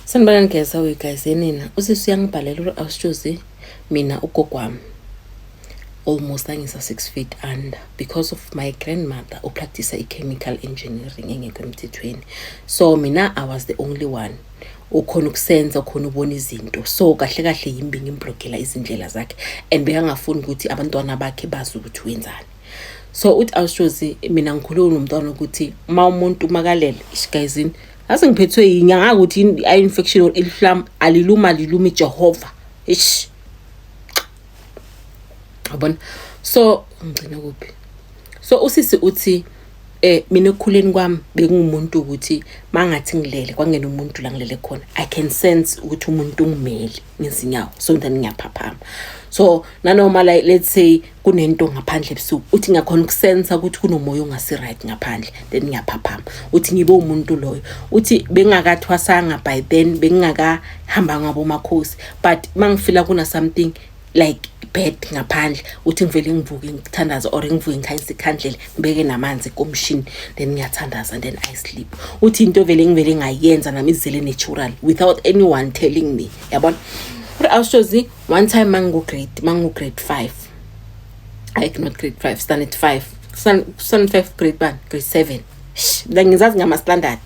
Sanibona ngeza we guys yenina usisi uyangibhalela ukuthi awusitshuzi mina ugogo wami almost angisa 6 feet under because of my grandmother upractice i-chemical engineering engekho emthethweni so mina i was the only one ukhona ukusenza ukhona ubona izinto so kahle kahle yimbi ngimblogela izindlela zakhe and bekangafuni ukuthi abantwana bakhe bazi ukuthi wenzani so uthi awushozi mina ngikhulule nomntwana ukuthi uma umuntu makalele ishigayizini Ase ngiphethwe yinye angazi ukuthi yini i infection or ilihlam aliluma lilumi Jehova. Eish. Yabona? So ngigcine kuphi? So usisi uthi eh mina ekukhuleni kwami bengumuntu ukuthi mangathi ngilele kwangena umuntu la ngilele khona I can sense ukuthi umuntu ungimeli. ngezinyawo so then ngiyaphaphama so nanoma like let's say kunento ngaphandle ebusuku uthi ngiyakhona ukusensa ukuthi kunomoya ongasi-right ngaphandle then ngiyaphaphama uthi ngibe umuntu loyo uthi bengakathwasanga by then bengingakahamba ngabo makhosi but uma ngifila kuna-something like bad ngaphandle uthi ngivele ngivuke ngithandaze or ngivuke ngikhanyisa ikhandlela beke namanzi komshini then ngiyathandaza and then i sleep uthi into vele ngivele ngayenza nami izele natural without anyone telling me yabona uri awushozi one time mangingu-grade mangingu-grade five hayi not grade five standard five standard five grade one grade seven la ngizazi ngama-standard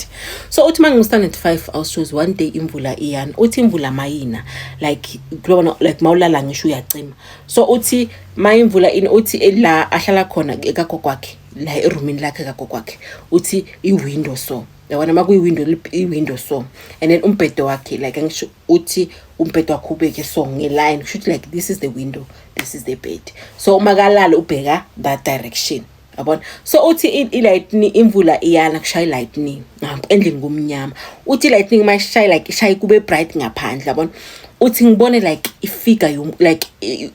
so uthi uma ngingu-standard five awushozi one day imvula iyana uthi imvula mayina like kulona like mawulala ngisho uyacima so uthi mayimvula ini uthi eh, la ahlala khona ekagogo wakhe la erumini lakhe kagogo wakhe uthi iwindow so yabona uma kuyiwindow iwindow so and then umbhedo wakhe like angisho uthi umbhedo wakhe ubeke so ngeline kusho ukuthi like this is the window this is the bed so uma kalala ubheka that direction yabona so uthi i-lightning imvula iyana kushaya i-lightning endlini kumnyama uthi i-lightning uma ishaya like ishaye kube bright ngaphandle yabona uthi ngibone like ifigure yom like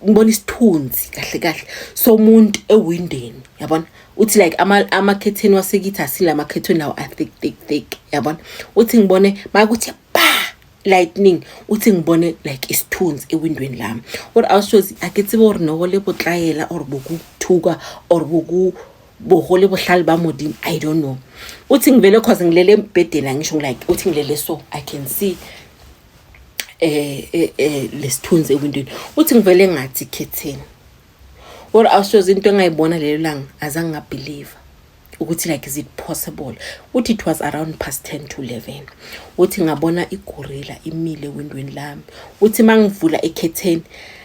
ngibona isithunzi kahle kahle somuntu ewindeni yabona uthi like ama amakhetheni wasekithi asile amakhetheni lawo a thick thick thick yabona uthi ngibone makuthi lightning uthi ngibone like isithunzi ewindweni lami or awushozi ake tsebe gore noko le botlayela or bokuthuka or boku bohole bohlale ba modimo i don't know uthi ngivele cause ngilele embhedeni angisho like uthi ngilele so i can see eh eh, eh lesithunzi ewindweni uthi ngivele ngathi khetheni or awushozi into engayibona lelo langa azange ngabelieve ukuthi like is it possible uthi it was around past 10 to 11 uthi ngabona igorilla imile windweni lami uthi mangivula ekhetheni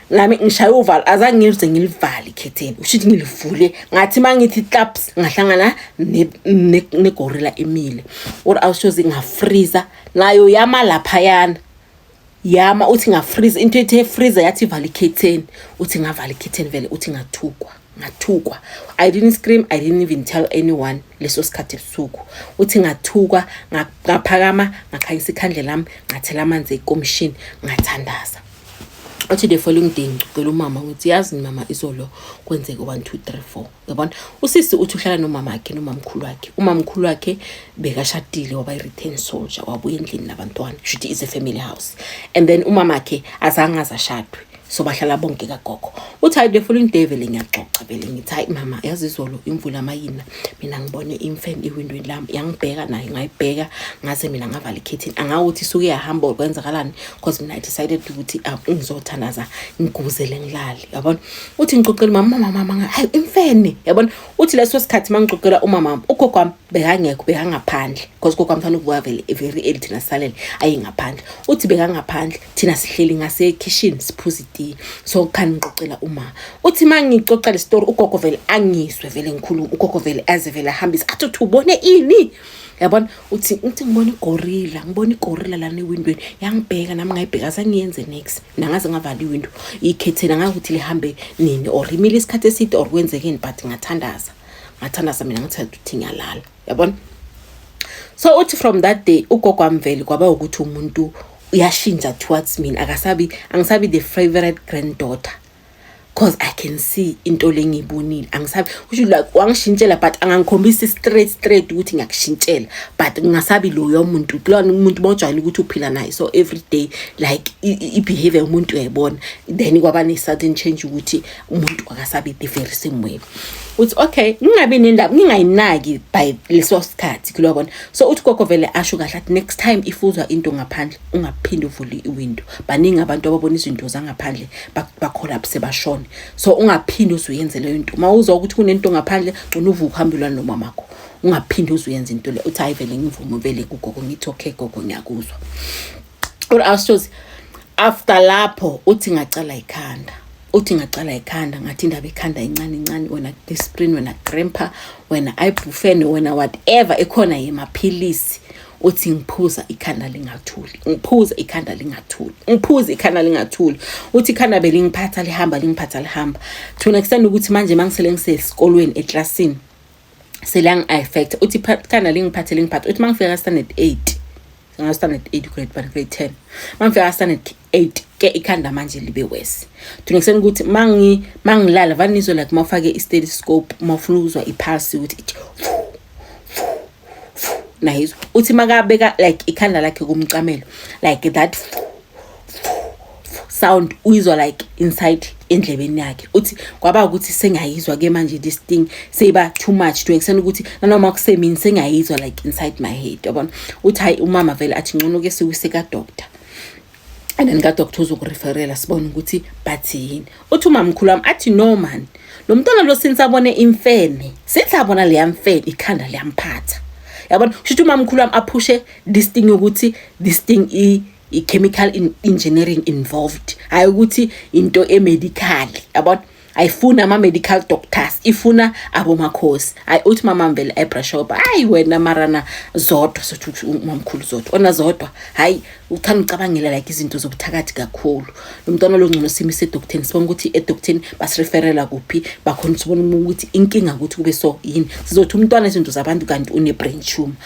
nami ngishaya uvalo azange ngize ngilivale ikhetheni ushithi ngilivule ngathi mangithi claps ngahlangana negorilla emile or awushoze ngafreezer nayo yama laphayana yama uthi ngafreeze into ethe freeze yathi vala ikhetheni uthi ngavala ikhetheni vele uthi ngathukwa ngathukwa i didn't scream i didn't even tell anyone leso sikhathi ebusuku uthi ngathukwa ngaphakama ngakhanyisa ikhandle lami ngathela amanzi ekomishini ngathandaza uthi the following day ngicela umama ngithi yazi mama izolo kwenzeke 1 2 3 4 yabona usisi uthi uhlala nomama wakhe nomamkhulu wakhe umamkhulu wakhe bekashadile waba i-return soldier wabuya endlini nabantwana shuthi is a family house and then umama wakhe azange azashadwe so bahlala bonke kagogo uthi hayi the following day vele ngiyaxoxa vele ngithi hayi mama yazi izolo imvula amayina mina ngibone imfene iwindweni lami yangibheka nayo ngayibheka ngaze mina ngavala ikhethini angawuthi isuke yahamba or kwenzakalani because mina i decided ukuthi ah, ngizothanaza ngiguzele ngilale yabona uthi ngixoxela umama umama mama hayi imfene yabona uthi leso sikhathi mangixoxela umama wami ugogo wami bekangekho bekangaphandle because ugogo wami fanele ukuvuka vele very early thina sisalele ayengaphandle uthi bekangaphandle thina sihleli ngasekhishini siphuza itiye so khani ngixoxela umama uthi mangixoxela isitori ugogo vele angizwe vele ngikhuluma ugogo vele aze vele ahambise athi uthi ubone ini yabona uthi uthi ngibona igorilla ngibona igorilla lana ewindweni yangibheka nami ngayibheka sangiyenze next nangaze ngavala iwindo ikhethela ngakuthi lihambe nini or imile isikhathi eside or kwenzekeni but ngathandaza ngathandaza mina ngithe ukuthi ngiyalala yabona so uthi from that day ugogo amveli kwaba ukuthi umuntu uyashintsha towards mina akasabi angisabi the favorite granddaughter cause i can see into lengiyibonile angisabi kusho like wangishintshela but angangikhombisi straight straight ukuthi ngiyakushintshela but ngingasabi loyo muntu kulona umuntu bojwayele ukuthi uphila naye so every day like i-behavior yomuntu uyayibona then kwaba ne-sudden change ukuthi umuntu akasabi the very same way uthi okay ngingabi nendaba ngingayinaki by leso sikhathi kulobona so uthi gogo vele asho kahle athi next time if uzwa into ngaphandle ungaphinde uvule iwindow baningi abantu ababona izinto zangaphandle bacollapse bashone so ungaphinde uzuyenze leyo nto uma uzwa ukuthi kunento ngaphandle gcina uvuke uhambe ulwane nomamakho ungaphinde uzuyenza into le uthi hayi vele ngivume vele kugogo ngithi okay gogo ngiyakuzwa or astos after lapho uthi ngacala ikhanda uthi ngacala ikhanda ngathi indaba ikhanda incane incane wena disprin wena grandpa wena ibufen wena whatever ekhona yemaphilisi uthi ngiphuza ikhanda lingathuli ngiphuza ikhanda lingathuli ngiphuza ikhanda lingathuli uthi ikhanda belingiphatha lihamba lingiphatha lihamba to extend ukuthi manje mangisele ngisesikolweni eclassini selang affect uthi ikhanda lingiphathe lingiphatha uthi mangifika standard 8 ngastandard 8 grade 1 grade 10 mangifika standard eight ke ikhanda manje libe worse thina kuseni ukuthi mangi mangilala vani nizwe like mawufake i-stethoscope mawufuna ukuzwa i-pulse ukuthi ithi nayizwa uthi makabeka like ikhanda lakhe kumcamelo like that sound uyizwa like inside endlebeni yakhe uthi kwaba ukuthi sengayizwa ke manje this thing seyiba too much to extend ukuthi nanoma kusemini sengayizwa like inside my head yabona uthi hayi umama vele athi ngcono ke siwuse ka doctor and then kadoctor uzokureferela sibone ukuthi bathi yini uthi umamkhulu wami athi no man lo mntwana lo since abone imfene since abona leya mfene ikhanda liyamphatha yabona kusho ukuthi umamkhulu wami aphushe this thing yokuthi this thing i i-chemical engineering involved hayi ukuthi into emedical yabona ayifuni ama-medical doctors ifuna abomakhosi hayi uthi mamamvele ebrashoba hayi wena marana zodwa sothi uthi umamkhulu zodwa ona zodwa hayi uthanda ucabangela like izinto zobuthakathi kakhulu lo mntwana lo ngcono simi sedokteni sibona ukuthi edokteni basireferela kuphi bakhona sibona ukuthi inkinga ukuthi kube so yini sizothi umntwana izinto zabantu kanti une-brain tumor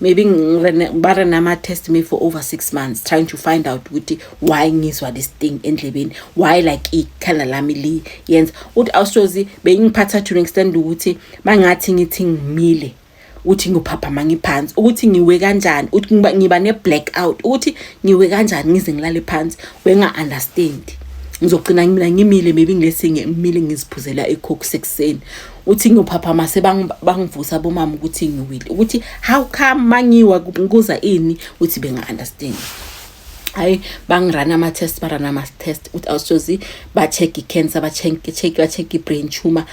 maybe ba re nama test me for over six months trying to find out ukuthi why ngizwa this thing endlebeni why like ikhala lami li yenza uthi awusozi beyingiphatha to an extent ukuthi mangathi ngithi ngimile uthi ngiyophaphama ngiphansi ukuthi ngiwe kanjani uthi ngiba ne-black out ukuthi ngiwe kanjani ngize ngilale phansi wenga-understand ngizogcina mina ngimile maybe ngilesinge ngimile ngiziphuzela ikhokhu sekuseni uthi ngiyophaphama sebangivusa bomama ukuthi ngiwile ukuthi how come mangiwa kuza ini uthi benga-understand hayi bangirana ama-test barana ama-test ukuthi awusozi ba-check i-cancer ba-check ba-check i-brain tumor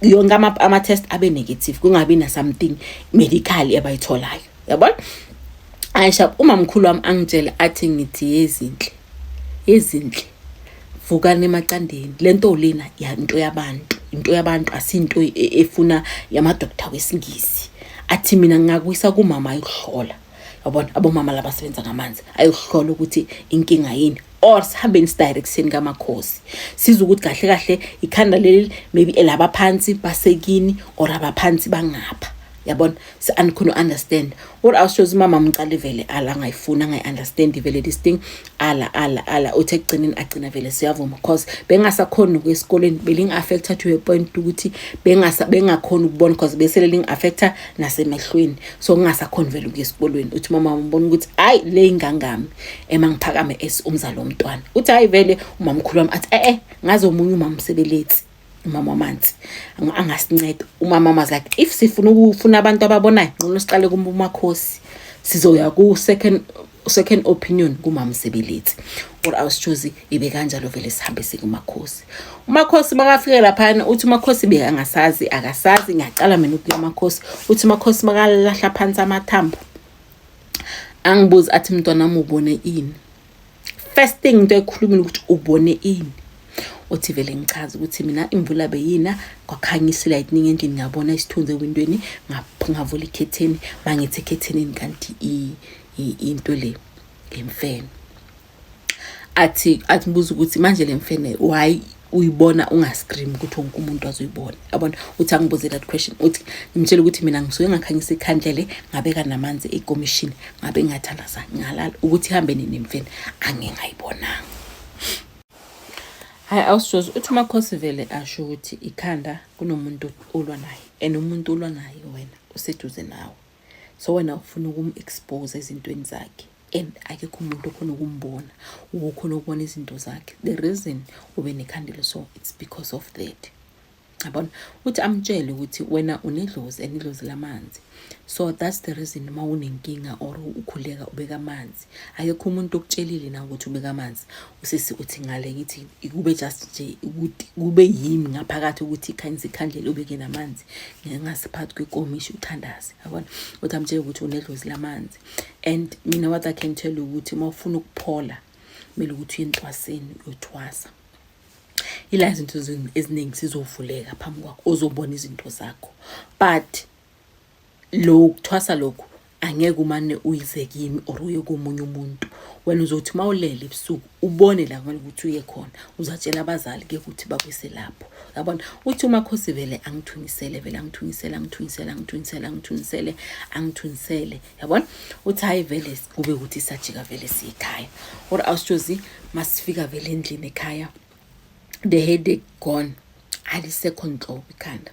yonke ama-test abe negative kungabi na-something medical abayitholayo yabona ayishab umamkhulu wami angitshele athi ngithi yezinhle Ezinhle vukani emaqandeni lento lena yanto yabantu into yabantu asinto e, e, efuna yama doctor wesingisi athi mina ngingakuyisa kumama ayohlola yabona abomama laba sebenza ngamanzi ayohlola ukuthi inkinga yini or sihambeni sidirectini kamakhosi siza ukuthi kahle kahle ikhanda leli maybe elabaphansi basekini or abaphansi bangapha yabona so andikhona u-understand what else shows umama mcala ivele ala angayifuni angayi-understand ivele this thing ala ala ala uthi ekugcineni agcina vele siyavuma because bengasakhoni ukuya esikoleni beling-affecta to a point ukuthi bengakhoni ukubona because besele ling-affecta nasemehlweni so kungasakhoni vele ukuya esikolweni uthi umama umbona ukuthi hhayi le ingangami ema ngiphakame as umzali womntwana uthi hhayi vele umamkhulu wami athi e-e ngaze omunye umamsebeletsi umama wamanzi angasinceda umama wamanzi like if sifuna ukufuna abantu ababonayo nqono siqale kumakhosi sizoya ku-second second opinion kumama sebeletsi or awusichozi ibe kanjalo vele sihambe sikumakhosi umakhosi makafike laphana uthi umakhosi be angasazi akasazi ngiyacala mina ukuya makhosi uthi umakhosi makalahla phansi amathambo angibuzi athi mntwana mubone ini first thing into ekhulumile ukuthi ubone ini othi vele ngichaze ukuthi mina imvula beyina kwakhanyisa ilightning endlini ngabona isithunzi ewindweni ngavula ikhetheni mangithi ekhethenini kanti into le ngemfene athi athibuza ukuthi manje le mfene why uyibona ungascream ukuthi wonke umuntu azoyibona yabona uthi angibuze that question uthi ngimtshele ukuthi mina ngisuke ngakhanyisa ikhandlele ngabeka namanzi ekomishini ngabe ngathandaza ngalala ukuthi ihambe nini mfeni angingayibonanga hayi awusijozi uthi umakhosi vele asho ukuthi ikhanda kunomuntu olwa naye and umuntu olwa naye wena useduze nawe so wena ufuna ukum-expose ezintweni zakhe and akekho umuntu okhona ukumbona ukhona ukubona izinto zakhe the reason ube nekhandelo so it's because of that yabona uthi amtshele ukuthi wena unedlozi and idlozi lamanzi so that's the reason uma unenkinga or ukhuleka ubeka amanzi akekho umuntu okutshelile na ukuthi ubeka amanzi usisi uthi ngale ngithi kube just nje ukuthi kube yimi ngaphakathi ukuthi ikhanyisa ikhandlela ubeke namanzi ngingasiphathi kwekomishi uthandazi yabona uthi amtshela ukuthi unedlozi lamanzi and mina what i can tell you ukuthi uma ufuna ukuphola kumele ukuthi uye entwaseni uyothwasa ila zinto eziningi sizovuleka phambi kwakho ozobona izinto zakho but lo ukuthwasa lokhu angeke umane uyize kimi or uye komunye umuntu wena uzothi uma ulele ebusuku ubone la kumele ukuthi uye khona uzatshela abazali ke ukuthi bakuyise lapho yabona uthi umakhosi vele angithunisele vele angithunisele angithunisele angithunisele angithunisele angithunisele yabona uthi hayi vele kube ukuthi sajika vele siyikhaya or awusithozi masifika vele endlini ekhaya the headache gone alisekho nhlobo ikhanda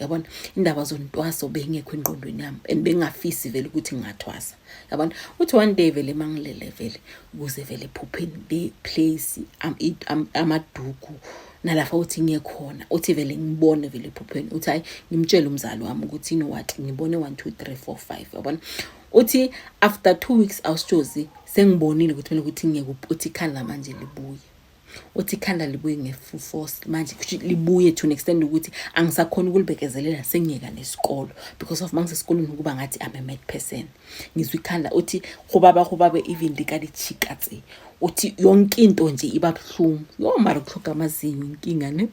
yabona indaba zontwaso beyingekho engqondweni yami and bengafisi vele ukuthi ngingathwasa yabona uthi one day vele mangilele vele kuze vele ephupheni le place amaduku nalapha uthi ngiyekhona uthi vele ngibone vele ephupheni uthi hayi ngimtshele umzali wami ukuthi you know what ngibone 1 2 3 4 5 yabona uthi after 2 weeks awushozi sengibonile ukuthi mina ukuthi ngeke uthi khala manje libuye uthi ikhanda libuye nge-full force manje kusho libuye to an extent ukuthi angisakhona ukulibekezelela sengiyeka nesikolo because of mangisesikolweni ukuba ngathi I'm a mad person ngizwa ikhanda uthi hubaba hubaba even likalichika tse uthi yonke into nje iba buhlungu yo mara kuhloga amazinyo inkinga ne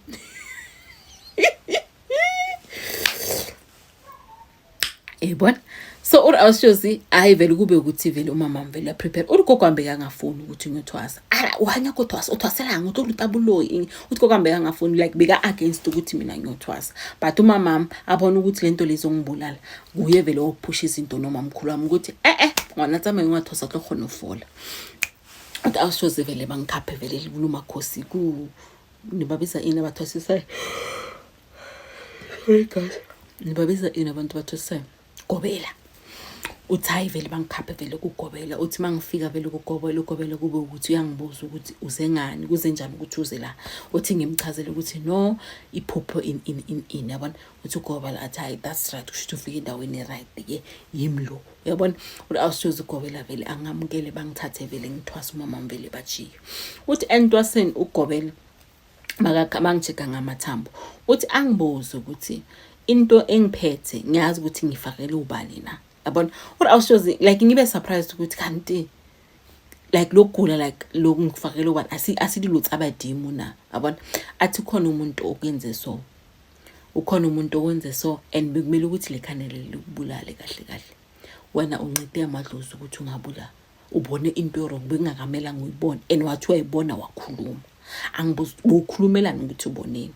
yayibona so uri awushozi hayi vele kube ukuthi vele umama mvele uyaprepare uri gogo ambeke angafuni ukuthi ngiyothwasa ala uhanya kothwasa uthwaselanga uthi ulutabuloyi uthi gogo ambeke angafuni like beka-against ukuthi mina ngiyothwasa but umamam abona ukuthi le nto lezongibulala kuye vele wokuphusha izinto nomamkhulu wami ukuthi e-e ngwana tsamaye ungathwasa tlo khona ufola uthi awushozi vele bangikhaphe vele libunumakhosi ku nibabiza ini abathwasisayo Hey guys, nibabiza ini abantu bathi se gobela. Uthi hayi vele bangikhaphe vele kugobela. Uthi mangifika vele kugobela ugobela kube ukuthi uyangibuza ukuthi uze ngani, kuze njani ukuthi uze la. Uthi ngimchazele ukuthi no iphupho in in in in yabona. Uthi ugobela athi hayi that's right kusho ukuthi ufike endaweni right ke yimi lo. Yabona uthi awusiyoze ugobela vele angamukele bangithathe vele ngithwasa umama vele bajiye. Uthi entwaseni ugobela mangijika ngamathambo uthi angibuze ukuthi into engiphethe ngiyazi ukuthi ngifakele ubani na yabona or awushozi like ngibe surprised ukuthi kanti like lokugula like loku ngifakele ubani asililutho abadimu na yabona athi khona umuntu okwenze so ukhona umuntu owenze so and bekumele ukuthi le khanele likubulale kahle kahle wena uncede amadlozi ukuthi ungabula ubone into yorong bekungakamelanga uyibone and wathi wayibona wakhuluma angibuza ukhulumelani ukuthi uboneni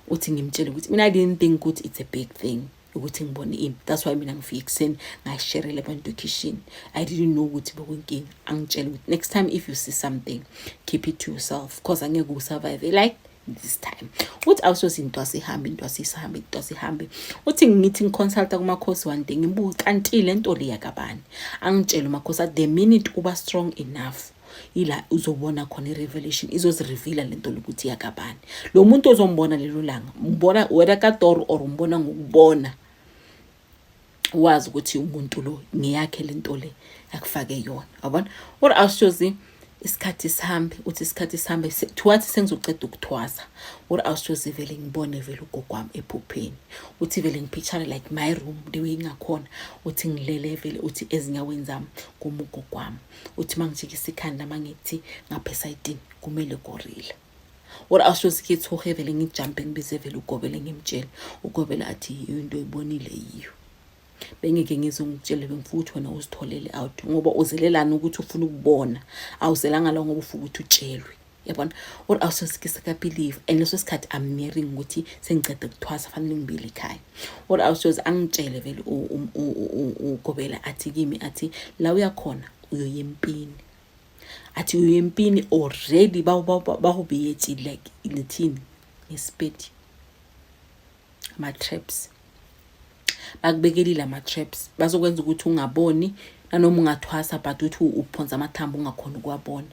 uthi ngimtshele ukuthi mina i didn't think ukuthi it's a big thing ukuthi ngibone ini that's why mina ngifike ekuseni ngayisherele abantu ekishin i didn't know ukuthi bekunkinga angitshele ukuthi next time if you see something keep it to yourself cause angeke usurvive like this time uthi awusoze into asihambe into asisahambe into asihambe uthi ngithi ngiconsulta kumakhosi one day ngibuke kanti le nto le yakabani angitshele umakhosi at the minute uba strong enough ila uzobona khona i-revelation izozirivila le nto lokuthi yakabani lo muntu ozombona lelo langa mbona wena katoro or umbona ngokubona wazi ukuthi umuntu lo ngiyakhe lento le akufake yona yabona or awushozi isikhathi sihambe uthi isikhathi sihambe thiwathi sengizoqeda ukuthwasa or awushozi vele ngibone vele ugogo wami ephupheni uthi vele ngiphitshane like my room the way ingakhona uthi ngilele vele uthi ezinyaweni zami kuma ugogo wami uthi uma ngijikisa ikhanda uma ngithi ngapha esayidini kumele gorile or awusoze khe thohe vele ngijampe ngibize vele ugobele ngimtshele ugobele athi yiyo into oyibonile yiyo bengeke ngize ngitshele bengifuthu wena uzitholele out ngoba uzelelani ukuthi ufuna ukubona awuzelanga la ngoba ufuna ukuthi utshelwe yabona or awusosikisa kabelieve and leso sikhathi i'm nearing ukuthi sengicede kuthwasa fanele ngibile ekhaya or awusoze angitshele vele ugobela athi kimi athi la uyakhona uyoyempini athi uye empini already bahubiyeti like ngithini ngesipedi ama-traps bakubekelile ama-traps bazokwenza ukuthi ungaboni nanoma ungathwasa but uthi uphonsa amathambo ungakhona ukuwabona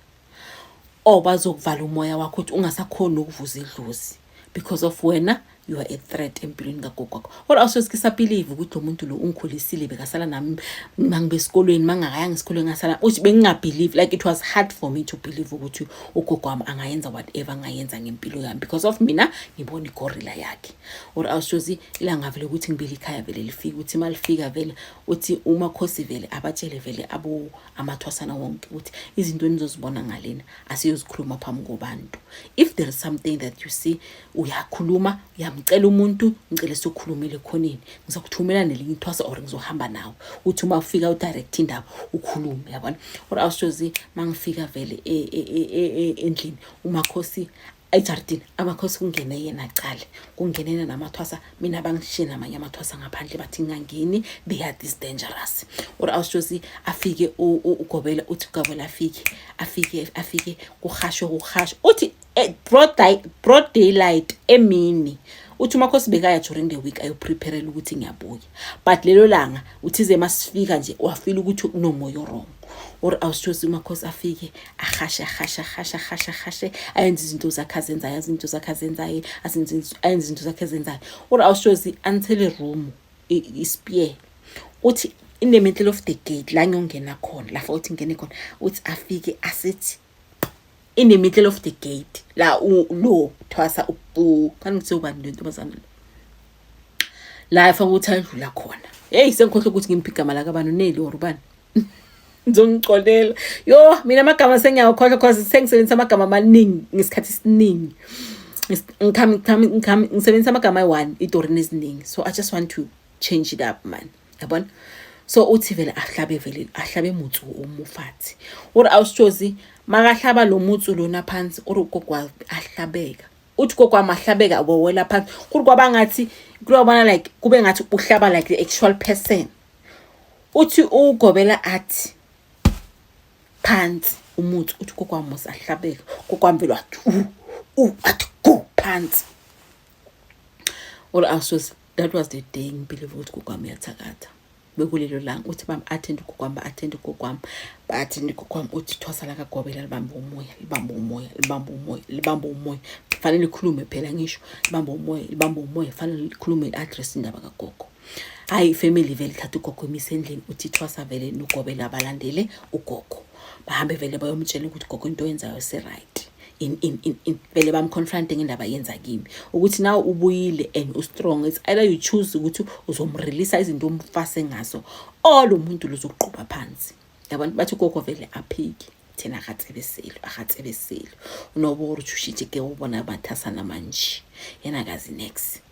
or bazokuvala umoya wakho ukuthi ungasakhoni ukuvuza idlozi because of wena you are a threat empilweni kagogo wakho kodwa awusoze kisabhilive ukuthi lo muntu lo ungikhulisile bekasala nami mangibe esikolweni mangakayanga esikolweni ngasala uthi bengingabhilive like it was hard for me to believe ukuthi ugogo wami angayenza whatever angayenza ngempilo yami because of mina ngibona igorilla yakhe or awusoze ilanga vele ukuthi ngibile ikhaya vele lifike ukuthi malifika vele uthi umakhosi vele abatshele vele abo amathwasana wonke ukuthi izinto enizozibona ngalena asiyozikhuluma phambi kobantu if there is something that you see uyakhuluma uyamcela umuntu ngicele sokhulumele khonini ngizokuthumela nelinye ithwasa or ngizohamba nawe uthi uma ufika udirect indaba ukhulume yabona or awushozi mangifika vele e, e, e, endlini umakhosi ejardini amakhosi kungene yena cale kungenena namathwasa mina bangishiye namanye amathwasa ngaphandle bathi ngingangeni they are this dangerous or awusjosi afike ugobela uthi ugobela afike afike afike kuhashwe kuhashwe uthi eh, broad daylight emini uthi umakhosi bekaya during the week ayoprepherela ukuthi ngiyabuya but lelo langa uthize masifika nje wafila ukuthi kunomoya orong or awusithosi umakhosi afike ahashe ahashe ahashe ahashe ahashe ayenze izinto zakhe azenzayo azi izinto zakhe azenzayo ayenze izinto zakhe azenzayo or awusithosi until room ispear uthi in the middle of the gate la ngiyongena khona la futhi ngene khona uthi afike asethi in the middle of the gate la lo thwasa ubu kanti ngithe ubani le ntombazana la efaka ukuthi ayidlula khona heyi sengikhohle ukuthi ngimuphi igama lakabantu neli or ubani ngizongixolela yo mina amagama sengiyawakhohlwa cause sengisebenzisa amagama amaningi ngesikhathi esiningi ngisebenzisa amagama ayi-one idorini eziningi so i just want to change it up man yabona so uthi vele ahlabe vele ahlabe mutsu umufathi uri awusitshozi makahlaba lo mutsu lona phansi uri ugogo ahlabeka uthi gogo wami ahlabeka wowela phansi kuri kwaba ngathi kuyobona like kube ngathi uhlaba like the actual person uthi ugobela athi phansi umuthi uthi kokwami usahlabeka kokwami vele wathi u athi go phansi or awusoze that was the day ngibelieve ukuthi kokwami uyathakatha bekulelo langa uthi bami athende kokwami ba-athende kokwami ba-athende kokwami uthi ithwasa lakagobela libambe umoya libambe umoya libambe umoya libambe umoya fanele likhulume phela ngisho libambe umoya libambe umoya fanele likhulume li-address indaba kagogo hayi ifamily vele thatha ugogo imise endlini uthi ithwasa vele nogobela balandele ugogo bahambe vele bayomtshela ukuthi gogo into oyenzayo si-right in in in in vele bamconfronte ngendaba yenza kimi ukuthi nawe ubuyile and ustrong it's either you choose ukuthi uzomrelease izinto umfase ngazo or lo muntu luzoqhuba phansi yabantu bathi gogo vele aphiki thina akatsebeseli akatsebeseli unobora uthi ushitshe ke ubona bathasana manje yena kazi next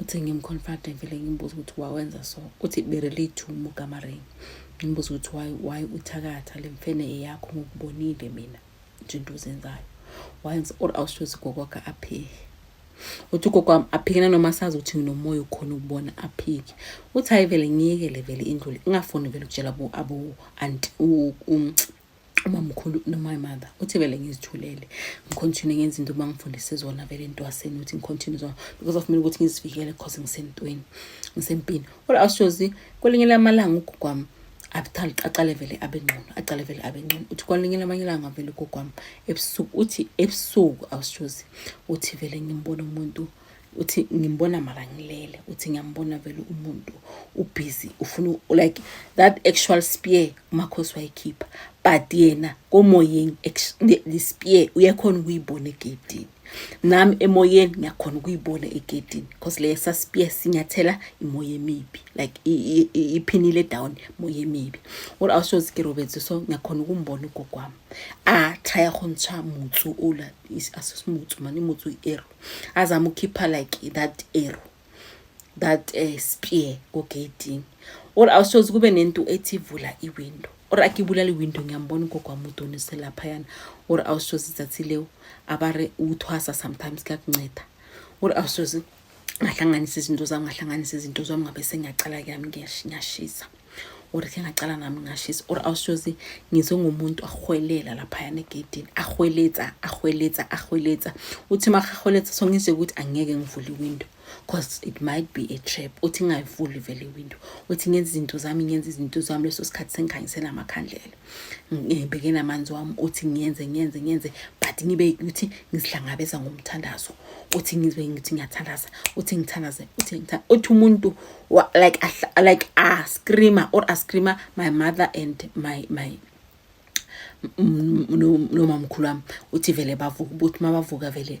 uthi ngimconfront ngivele ngimbuza ukuthi wawenza so uthi berelate to mugamaring ngimbuza ukuthi why why uthakatha le mfene eyakho ngokubonile mina nje into uzenzayo wayenza or awushozi gokwakhe aphike uthi ugogo wami aphike nanoma sazi ukuthi nginomoya ukhona ukubona aphike uthi hayi vele ngiyekele vele indlule ingafuni vele ukutshela abo anti umamkhulu noma imother uthi vele ngizithulele ngicontinue ngenza into uma ngifundise zona vele entwaseni ukuthi ngicontinue zona because akumele ukuthi ngizivikele because ngisentweni ngisempini kodwa awushozi kwelinye lamalanga ugugwami abuthali aqale vele abe ngcono aqale vele abe ngcono uthi kwalinye lamanye ilanga vele ugogwami ebusuku uthi ebusuku awushozi uthi vele ngimbona umuntu uthi ngimbona mara ngilele uthi ngiyambona vele umuntu ubhizi ufuna like that actual spear umakhosi wayikhipha but yena komoyeni the spear uyakhona ukuyibona egedini nami emoyeni ngiyakhona ukuyibona egedini because leyo saspia sinyathela imoya emibi like iphinile down moya emibi what else was ke robetse so ngiyakhona ukumbona ugogo wami a try go ntsha mutsu ola asesimutsu mani mutsu ero azama ukukhipha like that arrow that uh, spear kogeyidini or awusoze kube nento ethi vula iwindow or akibulala iwindow ngiyambona ugogo wami udonise laphayana or awusoze izathi leyo abare uthwasa sometimes kuyakunceda or awusoze ngahlanganisa izinto zami ngahlanganisa izinto zami ngabe sengiyacala kuyami ngiyashisa or ke ngacala nami ngashisa or awusoze ngizwe ngomuntu ahwelela laphayana egedini ahweletsa ahweletsa ahweletsa uthi makahweletsa so ngizwe ukuthi angeke ngivule iwindow because it might be a trap uthi ngayivuli vele iwindow uthi ngenza izinto zami ngenza izinto zami leso sikhathi sengikhanyisela amakhandlela ngibheke namanzi wami uthi ngiyenze ngiyenze ngiyenze but ngibe ukuthi ngizihlangabeza ngomthandazo uthi ngizwe ngithi ngiyathandaza uthi ngithandaze uthi ngithandaza uthi umuntu like like a screamer or a screamer my mother and my my nomamkhulu wami uthi vele bavuka ubuthi mabavuka vele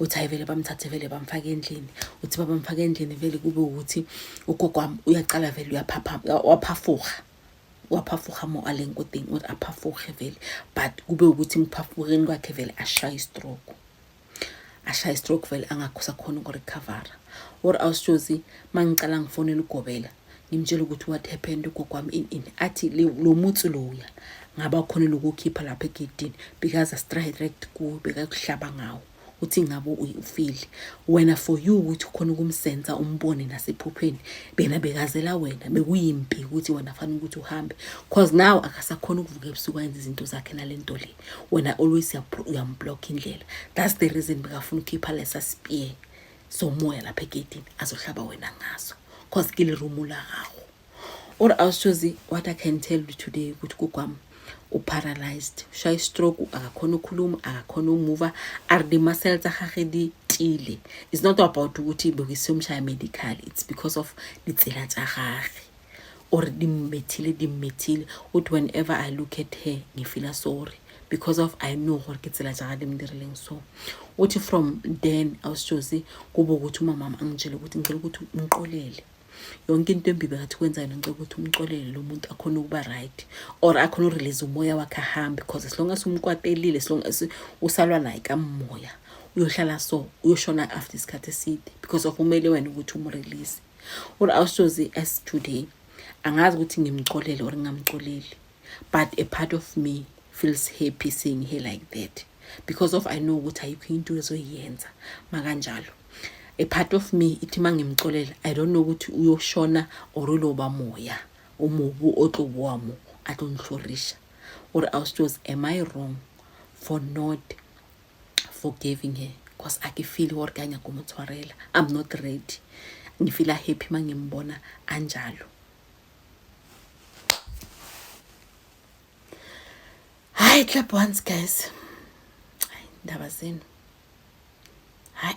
uthi hayi vele bamthathe vele bamfake endlini uthi babamfake endlini vele kube ukuthi ugogo wami uyaqala vele uyaphafuha waphafuha mo alenkudingi ukuthi aphafuhe vele but kube ukuthi ngiphafuheni kwakhe vele ashaya istroke ashaya istroke vele angakhusa khona ukurecover or awusjozi mangicala ngifonela ugobela ngimtshela ukuthi what happened ugogo wami in in athi lo mutsi loya ngaba khona lokukhipha lapha egedini because astrayirect kuwe bekakuhlaba ngawo uthi ngabo ufile wena for you ukuthi khona ukumsenza umbone nasephupheni bena bekazela wena bekuyimpi ukuthi wena fanele ukuthi uhambe cause now akasakhona ukuvuka ebusuku ayenza izinto zakhe nalento le wena always uyamblock indlela that's the reason bekafuna ukhipha lesa spear somoya lapha egedini azohlaba wena ngaso cause ke lirumo la gago or ausjozi what i can tell you today ukuthi kukwami uparalyzed shayi stroke akakhona ukhuluma akakhona umuva are the muscle tsa gage di tile it's not about ukuthi bekisiyomshaya medical it's because of ditsela tsa gage or dimmethile dimmethile uthi whenever i look at her ngifila sorry because of i know gore ke tsela jaga di mdirileng so uthi from then awusijose kube ukuthi umamama angitshele ukuthi ngicela ukuthi umqolele yonke into embibe ngathi kwenza yona ngicela ukuthi umxolele lo muntu akhona ukuba right or akhona urelease umoya wakhe ahambe because as long as umkwatelile as long as usalwa naye kamoya uyohlala so uyoshona after isikhathi eside because of umele wena ukuthi umrelease Uri awusoze as today. Angazi ukuthi ngimxolele or ngingamxoleli. But a part of me feels happy seeing her like that because of I know ukuthi ayikho into ezoyenza makanjalo. A part of me ithi mangimxolele I don't know ukuthi uyoshona or uloba moya umubu otlobwamo atonhlorisha. Uri awusoze am I wrong for not forgiving her cause akifili or kanye kumutshwarela i'm not ready ngifila happy mangimbona anjalo hayi clap once guys hayi ndaba zenu hayi